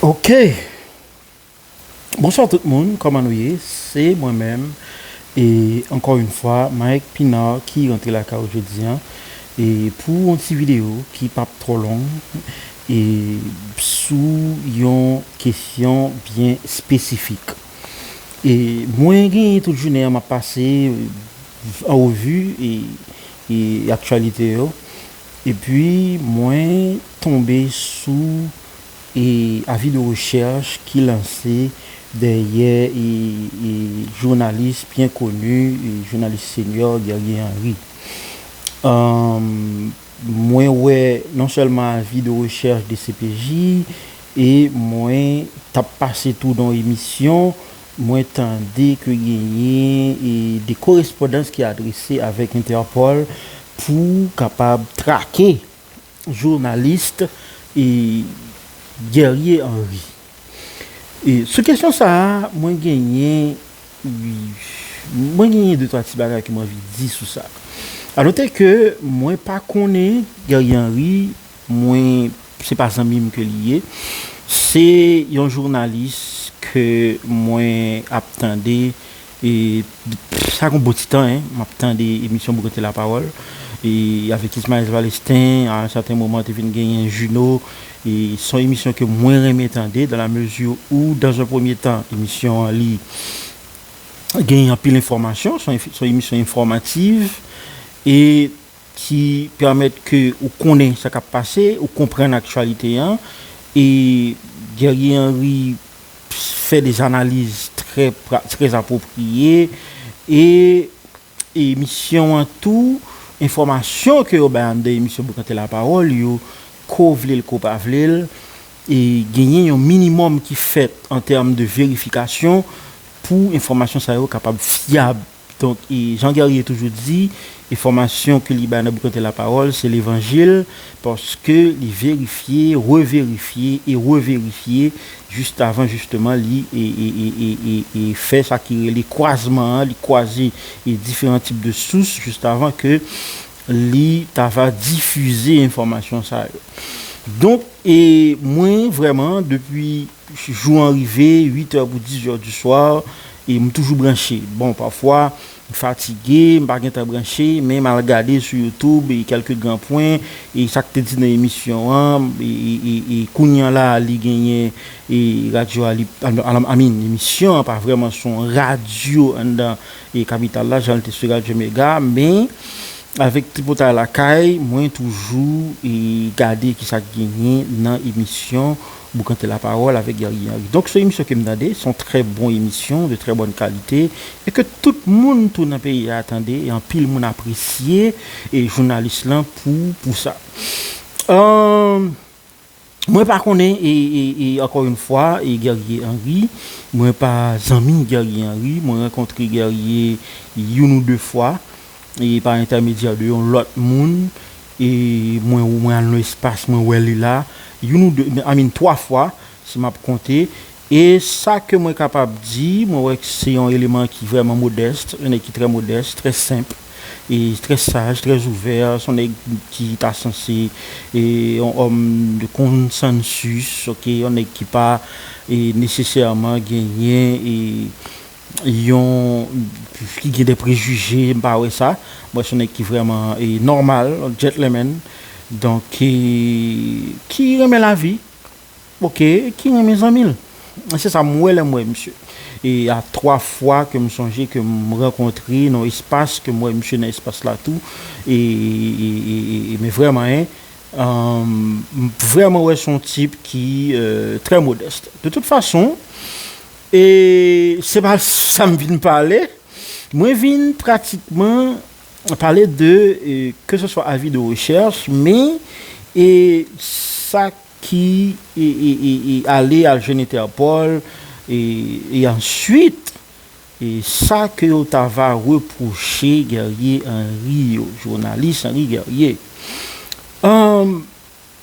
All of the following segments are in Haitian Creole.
Ok Bonswa tout moun kòman nou ye se mwen menm e ankò yn fwa Mike Pinard ki rantre lakay ou jodi an e pou yon ti video ki pap twò long e sou yon kesyon byen espesifik e mwen gen tout jounen an map pase an revu e aktyalite yo. Epi mwen tonbe sou avi de rechèch ki lanse dèyè jounalis byen koni, jounalis senyò Guerrier Henri. Mwen wè non sèlman avi de rechèch dcpj e mwen t ap pase tou nan emisyon. Mwen tande ke genyen de korespondans ki adrese avèk Interpol pou kapab trake journalist Guerrier Henri. Sou kesyon sa a, mwen genyen mwen genyen de twa ti bagay ke mwen anvi di sou sa. A note ke mwen pa konnen Guerrier Henri Mwen se pa zanmim ke li ye. Se yon jounalis ke mwen ap tande sa gon bon ti tan hein map tande emisyon Boukanté la parole avèk Ismaës Valestin a un certain moment te vin genyen Juno e son emisyon ke mwen renmen tande dans la mesure ou dans un premier temps emisyon an li genyen anpil enfòmasyon son emisyon enfòmativ e ki pèmèt ke ou konnen sa k ap pase, ou konprann aktyalite an, e Guerrier Henry fè des analiz trè trè apwopriye, e emisyon an tou, enfòmasyon ke yo bay anndan emisyon Boukante Lapawòl yo, ko vle l ko pa vle l, genyen yon minimòm ki fèt an tèm de verifikasyon pou enfòmasyon sa yo kapab fyab. Donk, jan Guerrier toujou di, enfòmasyon ke li bay nan Boukante Lapawòl, se levanjil, paske li verifye, reverifye e reverifye jistavan jisteman li fè sa ki rele kwazman an, li kwaze diferan tip de sous jistavan ke li ta va difize enfòmasyon sa yo. Donk, mwen vrèman, depi Jou an rive, 8 è pou 10 è du soir, e m toujou branche. Bon, pafwa, m fatige, m pa gen tan branche, men m al gade sou YouTube e kèlke gran pwen, e sa k te di nan emisyon an, e kounye an la a li genyen e radyo a li, I mean, emisyon an pa vrèman sou yon radyo anndan e kapital la jan l te sou radyo Mega, men, avèk Tripotay Lakay, mwen toujou e gade ki sa k genyen nan emisyon Boukante la parole avec Guerrier Henri donc son emisyon kem tande son trè bon emisyon de trè bòn kalite e ke tout moun tou nan peyi a tande e anpil moun apresye e jounalis lan pou pou sa mwen pa konnen e e ankò yn fwa e Guerrier Henri mwen pa zanmi Guerrier Henri mwen rankontre Guerrier youn ou de fwa e pa entèmedyè de yon lòt moun e mwen mwen al nan espas mwen wè li la youn ou 2 I mean 3 fwa si map konte e sa ke mwen kapab di mwen wè se yon eleman ki vrèman modèst yon nèg ki trè modèst trè senp e trè saj trè ouvè se yon nèg ki ta sanse e yon òm de konsansis ok yon nèg ki pa e nesesèman genyen e Yon ki gen de prejije m pa wè sa. Mwen son nèg ki vrèman nòmal, gentleman. Donk ki ki renmen lavi. Ok, ki renmen zanmi l. Se sa m wè lè m wè misye. E a 3 fwa ke m sonje ke m rankontre nan yon espas ke m wè misye nan espas la tou. E men vrèman en M vrèman wè son tip ki trè modèst. De tout fason. E se pa sa m vin pale. Mwen vin pratikman pale de ke se swa avi de rechèch men e sa ki ale al jwenn Interpol e answit e sa ke yo ta va repwoche Guerrier Henri yo, jounalis Henri Guerrier.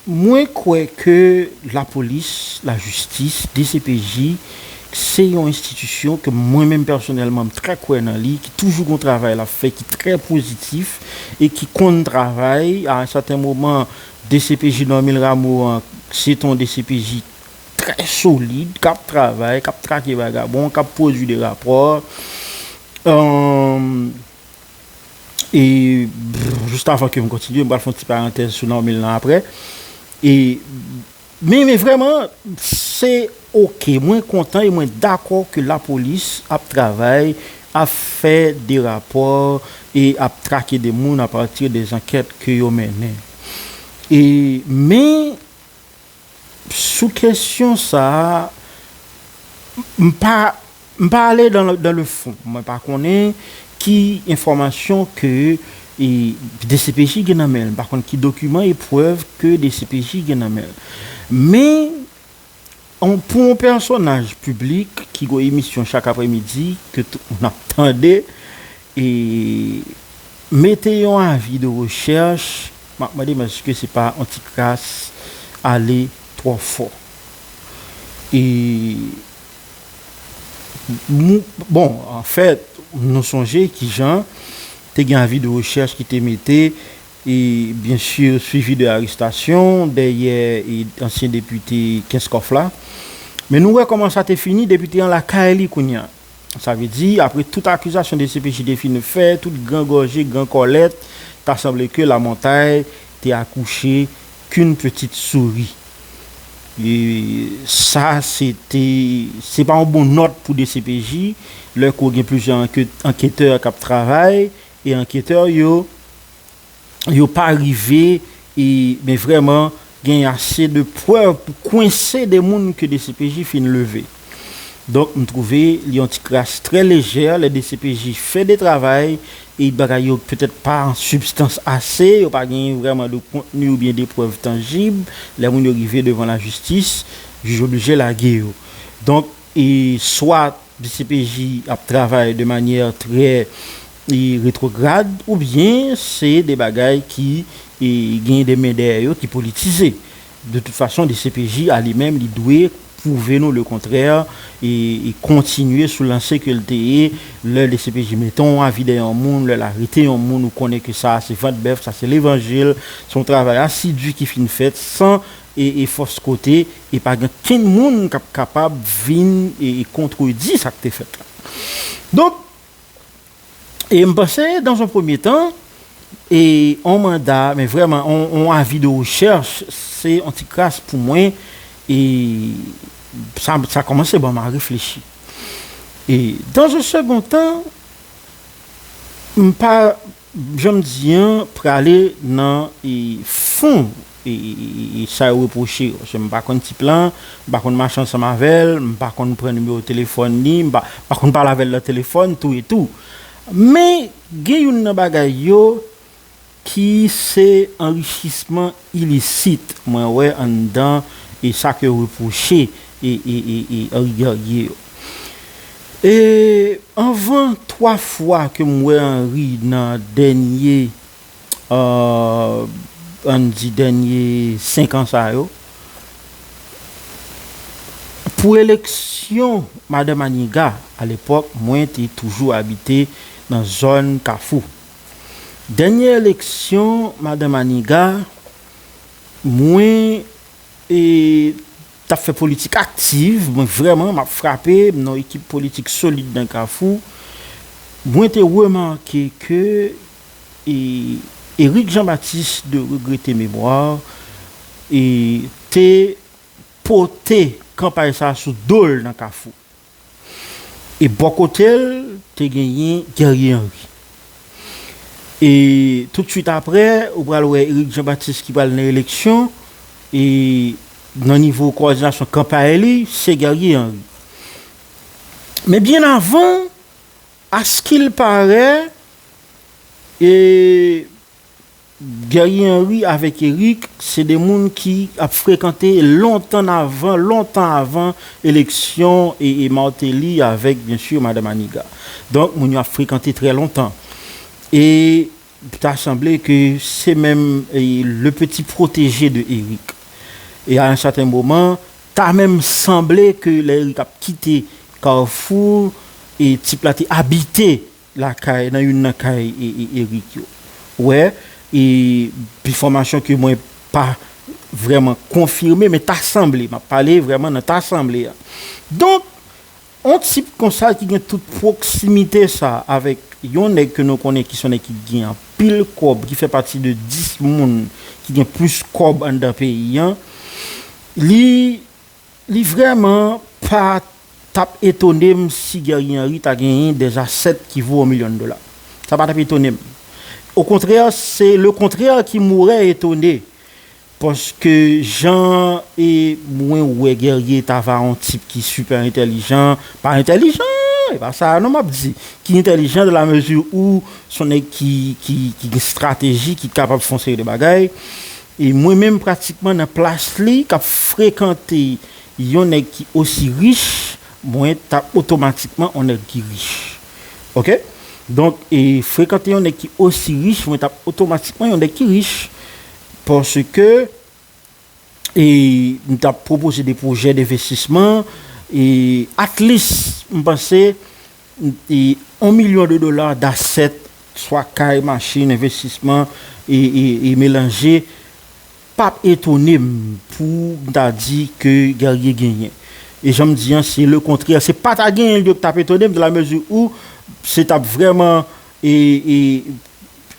Mwen kwè ke lapolis, lajistis, dcpj se yon enstitisyon ke mwen menm pèsonèlman m trè kwè nan li, ki toujou gon travay lap fè ki trè pozitif e ki konn travay. A un sèten moman dcpj Normil Rameau an se te yon dcpj trè solid, kap travay, kap trake vagabon, kap pwodui de rapò. e just avan ke m kontinye m pral fon ti parantèz sou Normil lan aprè e men men vrèman se ok mwen kontan e mwen dakò ke lapolis ap travay ap fè de rapò e ap trake de moun apati de zankèt ke yo mennen e men. Sou kesyon sa a, m pa m pa ale dan le fon. Mwen pa konnen ki enfòmasyon ke dcpj gen nan men l. M pa konn ki dokiman e prèv ke dcpj gen nan men l. Men, pou yon pèsonaj piblik ki gon emisyon chak apremidi ke tout moun ap tande, E mete yon avi de rechèch, m ap mande m èske se pa yon ti kras ale twò fò. E nou, bon, anfèt, nou sonje ki jan te gen avi de rechèch ki te mete, e byen si, suivi de arestasyon dèyè ansyen depite Kenskòf la. Men nou wè kòman sa te fini, depite an lakay li kounye a. Sa vle di, apre tout akizasyon dcpj te fin fè, tout gran gòje, gran kòlèt, ta sanble ke Lamontay te akouche k'un petite souris. E sa se te, se pa yon bon nòt pou dcpj, lè ke w gen plizyè anketè k'ap travay, e anketè yo, yo pa rive e men vreman gen ase de prèv pou kwense de moun ke dcpj fin leve. Donk m trouve li yon ti kras trè lejè lè dcpj fè de travay e bagay yo petèt pa an sibstans ase, yo pa gen vreman de kontni ou byen de prèv tanjib, lè moun yo rive devan lajistis jij oblije lage yo. Donk. E swat dcpj ap travay de manyè trè retwograd ou byen se de bagay ki gen de men dèyè yo ki politize. De tout fason dcpj a li menm li dwe pwouve nou le kontrè e kontinye sou lanse ke l te ye lè dcpj mete yon avi dèyè yon moun, lè l arete yon moun ou konnen ke sa a se vant bèf, sa se levanjil, se yon travay asidi ki fin fèt san e fòs kote e pa gen kenn moun kap kapab vin e kontredi sak te fèt la donk e mpanse dans un premier temps e on manda men vrèman on avis de recherche se on ti kras pou mwen e sa kòmanse banm a reflechi e dans un second temps mpa. Janm di an prale nan fon sa yo repwoche yo paske m pa konn tip lan, m pa konn mache ansanm avè l, m pa konn pran nimewo telefòn li, m pa konn pale avè l nan telefòn tou etou. Men gen youn nan bagay yo ki se anrichisman ilisit mwen wè anndan e sa ke yo repwoche e e e e Henri Guerrier yo. E anvan 3 fwa ke m wè Henri nan dènye ahh ann di dènye 5 an sa yo, pou eleksyon Madan Maniga, alepòk mwen te toujou abite nan zòn Kafou. Dènye eleksyon madan Maniga mwen tap fè politik aktiv mwen vrèman map frape m nan ekip politik solid nan kafou mwen te remake ke Eric Jean Baptiste de regrete memwa te pote kanpay sa sou dol nan kafou. E bò kote l, te genyen Guerrier Henry. E toutswit apre, ou pral wè Éric Jean Baptiste ki pral nan eleksyon, e nan nivo kowòdinasyon kan pa eli, se Guerrier Henry. Men byen avan, askil pare, e Guerrier Henry avèk Eric se 2 moun ki ap frekante lontan avan, lontan avan eleksyon Martelly avèk byen sur Madame Aniga. Donk moun yo ap frekante trè lontan. E ta sanble ke se menm le petit protégé de Eric. E a un certain moment, ta menm sanble ke lè Eric ap kite Carrefour, tip la te abite lakay nan youn nan kay Erick yo wè e bifomasyon ke mwen pa vrèman konfime men ta sanble map pale vrèman nan ta sanble a donk on tip konsa ki gen tout pwoksimite sa avèk yon nèg ke nou konnen ki son nèg ki gen anpil kòb ki fè pati de 10 moun ki gen plis kòb anndan peyi an li Li vrèman pa tap etone m si Guerrier Henry ta genyen des assets ki vo 1 million dola. Sa pa tap etone m. O kontrè, se le kontrè ki mourè etone. Paske jan e mwen wè Guerrier ta va on tip ki super entèlijan, pa entèlijan, e pa sa a non map di, ki entèlijan de la mesure où son nèg ki gen strateji, ki kapab fon seri de bagay. E mwen menm pratikman nan plas li kap frekante yon nèg ki osi rich, mwen tap otomatikman yon nèg ki rich. Ok. Donk e frekante yon nèg ki osi rich, mwen tap otomatikman yon nèg ki rich. Paske e m tap pwopoze de pwojè denvestisman e at lis m panse 1 milyon de dola dasèt, swa kay, machin, envestisman, e melanje, pa p etone m pou m ta di ke Guerrier genyen. E jan m di an, se le kontrè. Se pa ta genyen li yo ki ta p etone m dan la mezi ou se ta p vrèman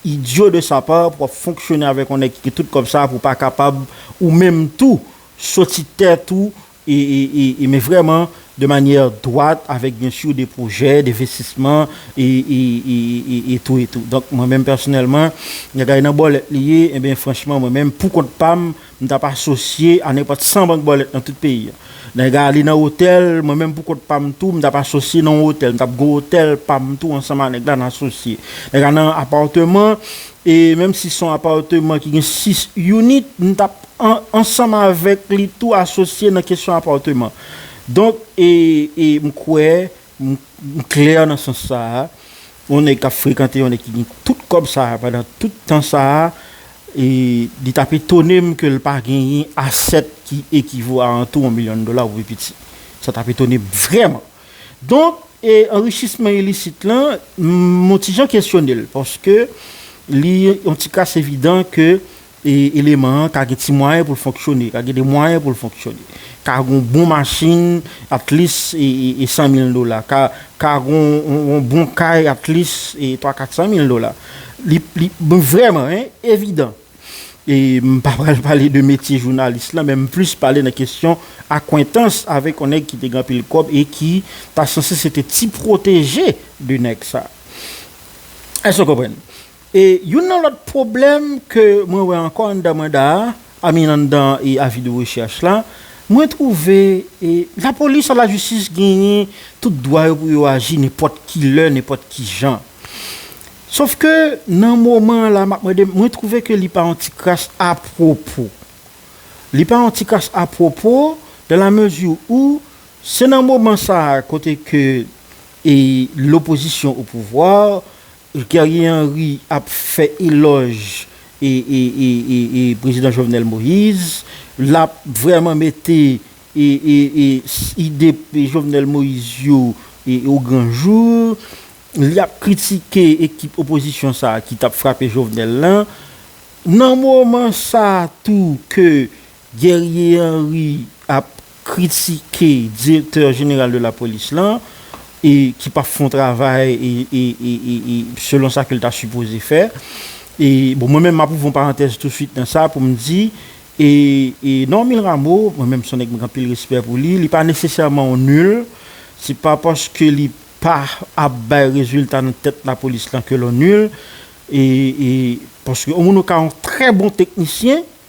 idyo de sa pa pou w ap fonksyone avèk yon nèg ki gen tout kòb sa pou w pa kapab ou menm tou soti tèt ou e men vrèman de manyè dwat avèk byen sur de pwojè denvestisman e tou e tou donk mwen menm pèsonèlman bagay nan bòlèt li ye e ben franchman mwen menm pou kont pa m m tap asosye a nenpòt 100 bank bòlèt nan tout peyi a nan ega ale nan otèl mwen menm pou kont pa m tou m tap asosye nan yon otèl m tap gen yon otèl pa m tou ansanm a nèg la n asosye nan ega nan apàteman e menm si son apàteman ki gen 6 unit m tap. an ansanm avèk li tou asosye nan kesyon apòteman. Donk e e m kwè m m klè nan sans sa a, yon nèg k ap frekante yon nèg ki gen tout kòb sa a pandan tout tan sa a e li t ap etone m ke l pa genyen asèt ki ekivo a antou yon milyon dola ou pi piti. Sa t ap etone m vrèman. Donk e anrichisman ilisit lan m yon ti jan kesyone l paske li yon ti kras evidan ke E eleman an ka gen ti mwayen pou l fonksyone, ka gen de mwayen pou l fonksyone. Ka gen yon bon machin at least e 100 mil dola. Ka ka gen yon bon kay at least e 3 400 mil dola. Li li bon vrèman hein evidan. E m pa pral pale de metye jounalis lan men m plis pale nan kesyon akwentans avèk yon nèg ki te gen anpil kòb e ki ta sanse se te ti pwoteje de nèg sa. Èske w konprann? E youn nan lòt pwoblèm ke mwen wè ankò anndan manda a, I mean anndan avi de rechèch la, mwen twouve lapolis ak lajistis genyen tout dwa yo pou yo aji nenpòt ki lè, nenpòt ki jan. Sof ke nan moman an la, m ap mande, mwen twouve ke li pa yon ti kras apwopo. Li pa yon ti kras apwopo dan la mezi ou se nan moman sa a kote ke lopozisyon opouvwa, Guerrier Henry ap fè elòj prezidan Jovenel Moïse, l ap vrèman mete ide Jovenel Moïse yo o gran jou, li ap kritike ekip opozisyon sa ki t ap frape Jovenel lan. Nan moman sa tou ke Guerrier Henry ap kritike direktè jeneral de lapolis lan e ki pa fon travay selon sa ke l ta sipoze fè. E bon mwen menm m ap ouvri yon parantèz touswit nan sa pou m di e Normil Rameau mwen menm s on nèg m gen anpil respè pou li, li pa nesesèman yon nul, se pa paske li pa ap bay rezilta nan tèt lapolis lan ke l on nul e paske yon moun ka yon trè bon teknisyen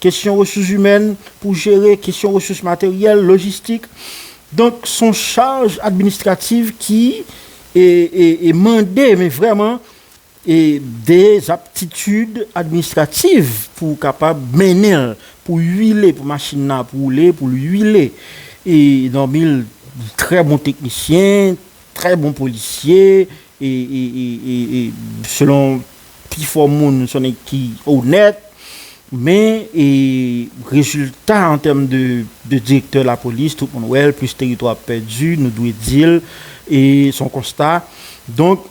Kesyon resouzimèn pou jere kesyon resous materyèl, lojistik. Donk s on chaj administrativ ki mande men vrèman de aptitid administrativ pou ou kapab mennen l, pou w uile, pou machin nan ap woule, pou l uile. Dòmi l trè bon teknisyen. Trè bon polisye e selon pi fò moun son nèg ki onèt men e rezilta an tèm de direktè lapolis tout moun wèl plis teritwa ap pèdi nou dwe dil e son konsta donk.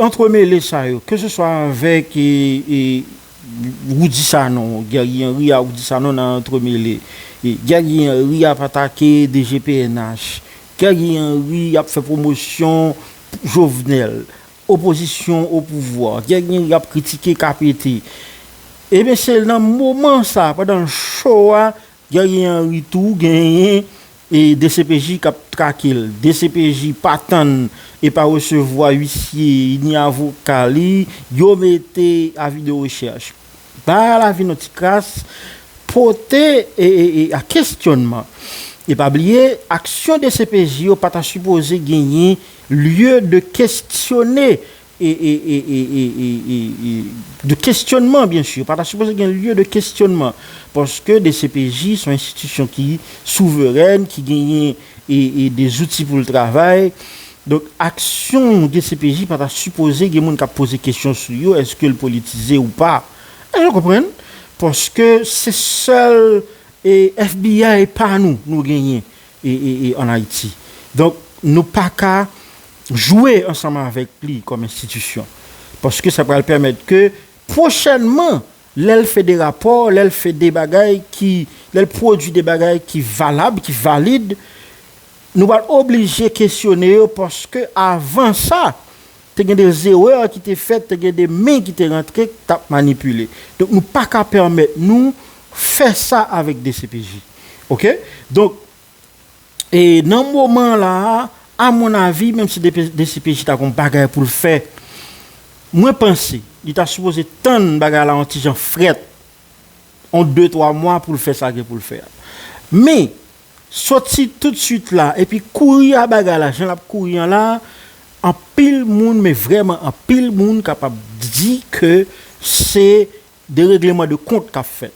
Antremele sa yo, ke se swa avèk Roudy Sanon, Guerrier Henry a Roudy Sanon nan antremele. Guerrier Henry ap atake DG pnh. Guerrier Henry ap fè pwomosyon Jovenel. Opozisyon o pouvwa. Guerrier Henry ap kritike KPT. Eben se nan moman sa, pandan show a, Guerrier Henry tou genyen dcpj k ap trake l. Dcpj pa tann e pa resevwa uisye ni avoka li, yo mete avi de rechèch. Bay a lavi nou ti kras, pote a kesyònman. E pa bliye, aksyon dcpj yo pa ta sipoze genyen lye de kesyone. e e e e e e e e de kesyonman byen sur pa ta sipoze gen lye de kesyonman paske dcpj son enstitisyon ki souverèn ki genyen e e de zouti poul travay donk aksyon dcpj pa ta sipoze gen moun kap poze kesyon sou yo eskel politize ou pa èske nou konprann paske se sèl e FBI pa nou nou genyen e e e an ayiti donk nou paka. jwe ansanm avèk li kòm enstitisyon. Paske sa pral pèmèt ke pwochènman lè l fè de rapò, lè l fè de bagay ki, lè l pwodui de bagay ki valab, ki valid, nou pral oblije kesyone yo paske avan sa, te gen de zerè ki te fèt, te gen de men ki te rantre k t ap manipile. Donk nou pa ka pèmèt nou fè sa avèk dcpj. Ok? Donk. E nan moman la a, a mon avi, menm si dcpj ta gon bagay pou l fè, mwen panse li ta sipoze tann bagay la yon ti jan frèt, yon de twa mwa pou l fè sa gen pou l fè a. Men, soti toutswit la epi kouri a bagay la jan l ap kouri an la a, anpil moun, men vrèman anpil moun kapab di ke se De règleman de kont kap fèt.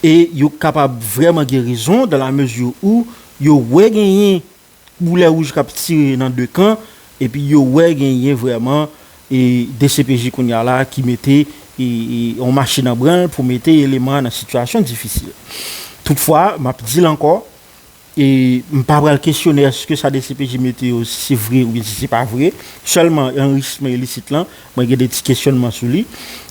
E yo kapab vrèman gen rezon dan la mezi ou yo wè genyen boulè wouj kap tire nan de kan epi yo wè genyen vrèman e dcpj kounye a la ki mete e yon machin an branl pou mete eleman nan sitiyasyon difisil. Toutfwa, map dil ankò, E m pa pral kesyone èske sa dcpj mete yo si se vre oubyen si se pa vre. Sèlman anrichisman ilisit lan, mwen gen de ti kesyònman sou li.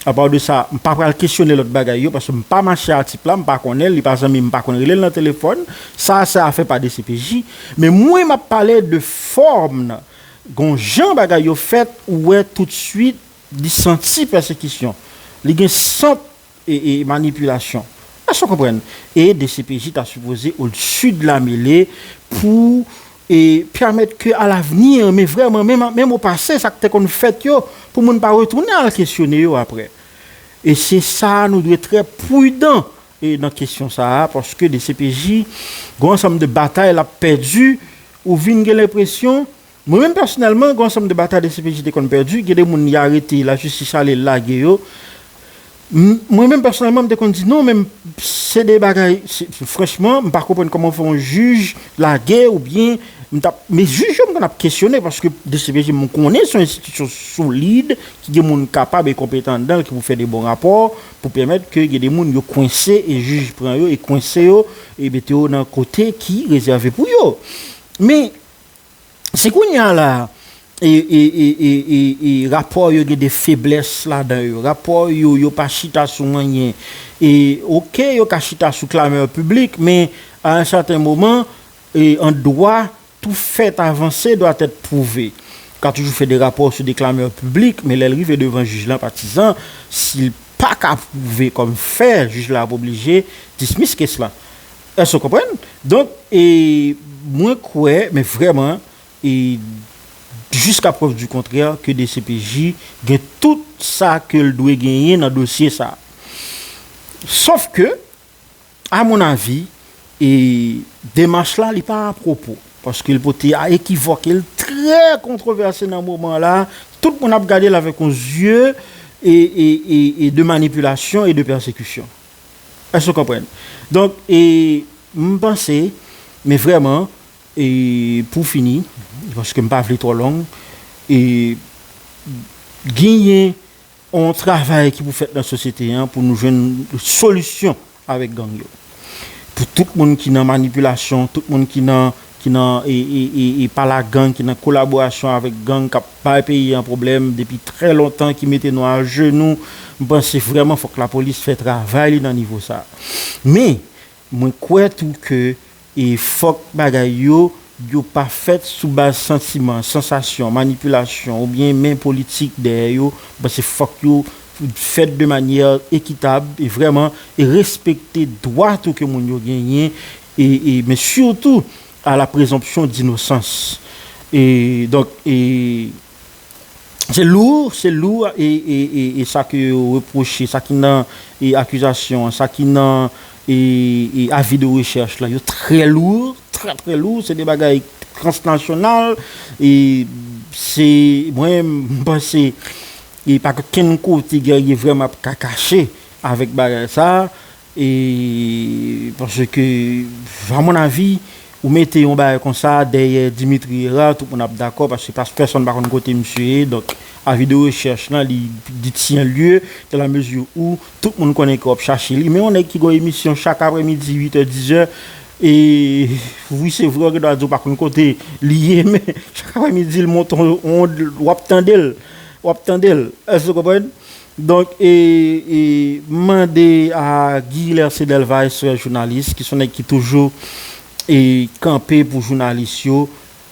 Apaw de sa, m pa pral kesyone lòt bagay yo paske m pa mache a tip la, m pa konnen l, li pa zanmi m, m pa konn rele l nan telefòn. Sa a se afè pa dcpj. Men mwen m ap pale de fòm nan. Gon jan bagay yo fèt ou wè toutsuit li santi pèsekisyon. Li gen sant e manipilasyon. Èske w konprann? E dcpj ta sipoze au dessus de la mêlée pou e pèmèt ke a l'avenir men vrèman menm menm au passé sa k te konn fèt yo pou moun pa retounen al kesyone yo aprè. E se sa nou dwe trè prudan e nan kesyon sa a paske dcpj gon ansanm de batay l ap pèdi ou vin gen lenpresyon Mwen menm pèsonèlman gon ansanm de batay dcpj te konn pèdi, gen de moun li arete la jistis ale lage yo, m mwen menm pèsonèlman m te konn di non men se de bagay franchman m pa konprann kòman fè yon jij lage ou byen m tap men jij yo m konn ap kesyone paske dcpj m konnen se yon enstitisyon solid ki gen moun kapab e konpetan anndan l ki pou fè de bon rapò pou pèmèt ke gen de moun yo kwense e jij pran yo e kwense yo e mete yo nan kote ki rezève pou yo men Si kounye a la a, rapò yo gen de feblès ladan yo, rapò yo yo pa chita sou anyen, oke yo ka chita sou klamè piblik, men a un sèten moman, an dwa, tou fèt avanse dwa tèt pwouve. Ou ka toujou fè de rapò sou de klamè piblik, men lè l rive devan jij lan patizan, si l pa ka pwouve kòm fè, jij la ap oblije dismiss kes la. Èske w konprann? Donk, e, mwen kwè, men vrèman, e, jiska prèv di kontrè, ke dcpj gen tout sa ke l dwe genyen nan dosye sa a. Sof ke, a mon avi, e, demach la, li pa apwopo. Paske l pote a ekivòk, e l trè kontwovèse nan moman an la a. Tout moun ap gade l avèk yon zye, e, e, e, e de manipilasyon e de pèsekisyon. Èske ou konprann? Donk, e, m panse, men vrèman, e, pou fini, paske m pa vle twò long, e, genyen yon travay ki pou fèt nan sosyete an pou nou jwenn solisyon avèk gang yo. Pou tout moun ki nan manipilasyon, tout moun ki nan ki nan e pa la gang ki nan kolaborasyon avèk gang kap bay peyi an pwoblèm depi trè lontan ki mete nou ajenou m panse vrèman fòk lapolis fè travay li nan nivo sa men mwen kwè tou ke e fòk bagay yo yo pa fèt sou baz santiman sansasyon manipilasyon oubyen men politik dèyè yo m panse fòk yo fèt de manyè ekitab e vrèman e respekte dwa tou ke moun yo genyen e men sitou a la prezonpsyon dinosans e donk e se lou se lou e e e sa ke yo repwoche sa ki nan e akizasyon an sa ki nan e e avi de rechèch la yo trè lou trè trè lou se de bagay transnasyonal e se mwen m panse e pa gen okenn kote Guerrier vrèman ap ka kache avèk bagay sa E paske a mon avi ou mete yon bagay konsa dèyè Dimitri Herard tout moun ap dakò paske pas pèsonn pa konn kote misye ye donk avi de rechèch lan li di tien lye dan la mezi ou tout moun konnen ke wap chache li men yon nèg ki gon emisyon chak aprè midi uit è dizè e wi se vre ou gen dwa di ou pa konn kote li ye men chak aprè midi l monte yon ond wap tande l wap tande l èske w konprann Donk e e m mande a Guy Lercé Delvaïs frè jounalis ki son nèg ki toujou e kanpe pou jounalis yo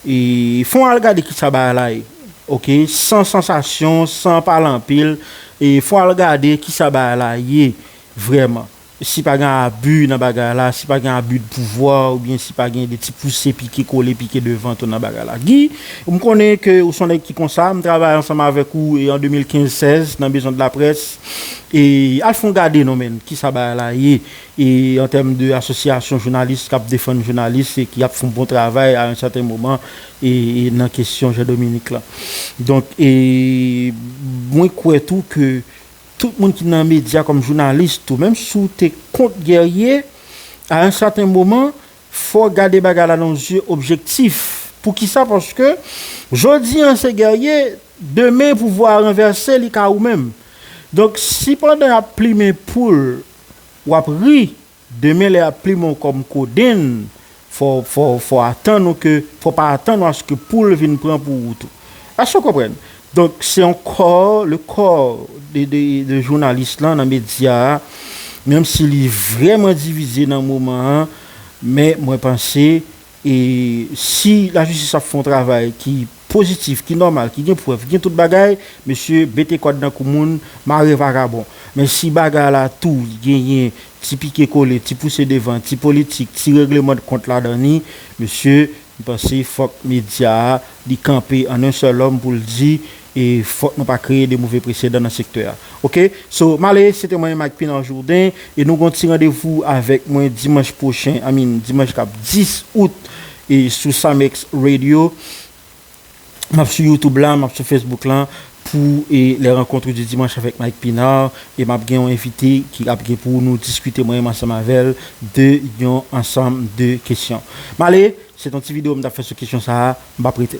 e fon al gade kisa bagay la ye ok san sansasyon san pale anpil e fon al gade kisa bagay la ye vrèman Si pa gen abi nan bagay la, si pa gen abi de pouvwa oubyen si pa gen de ti pouse pike kole pike devan tou nan bagay la. Guy, m konnen ke ou son nèg ki konsa, m travay ansanm avèk ou e an 2015 16 nan Maison de la Presse e al fon gade non men kisa bagay la ye e an tèm de asosyasyon jounalis kap defann jounalis e ki ap fon bon travay a yon sèten moman e nan kesyon Jean Dominique lan. Donk e mwen kwè tou ke Tout moun ki nan medya kòm jounalis tou menm si w te kont Guerrier a yon sèten moman fò w gade bagay la nan yon zye objektif. Poukisa paske jodi an se Guerrier demen pouvwa a ranvèse li ka ou menm. Donk si pandan y ap plimen poul w ap ri Demen lè yap plimen w kòm kodenn, fò, fò, fò atann ou ke, fò pa atann ou aske poul vin pran pou ou tou. Èske w konprann? Donk, se yon kò, le kò de, de, de jounalis lan nan medya a, menm si li vrèman divize nan moman an, men mwen panse, e, si lajistis ap fè yon travay ki. pozitif, ki nòmal, ki gen prèv, ki gen tout bagay, mesye bete kòd nan kou moun, mare vagabon. Men si bagay la tou genyen ti pike kole, ti pouse devan, ti politik, ti regleman de kont ladan li, mesye, m panse fòk medya a li kanpe an un seul homme pou l di e fòk nou pa kreye de move presedan nan sektè a. Ok? So, m ale, se te mwen Mike Pinard Jourdain e nou gen yon ti randevou avèk mwen dimanch pwochen, I mean dimanch k ap 10 out e sou Samex Radio map sou YouTube la map sou Facebook la pou e les rencontres du dimanche avec Mike Pinard e map gen yon envite ki ap gen pou nou diskite mwen menm ansanm avèl de yon ansanm de kesyon male se ton ti video m tap fè sou kesyon sa m pap rete.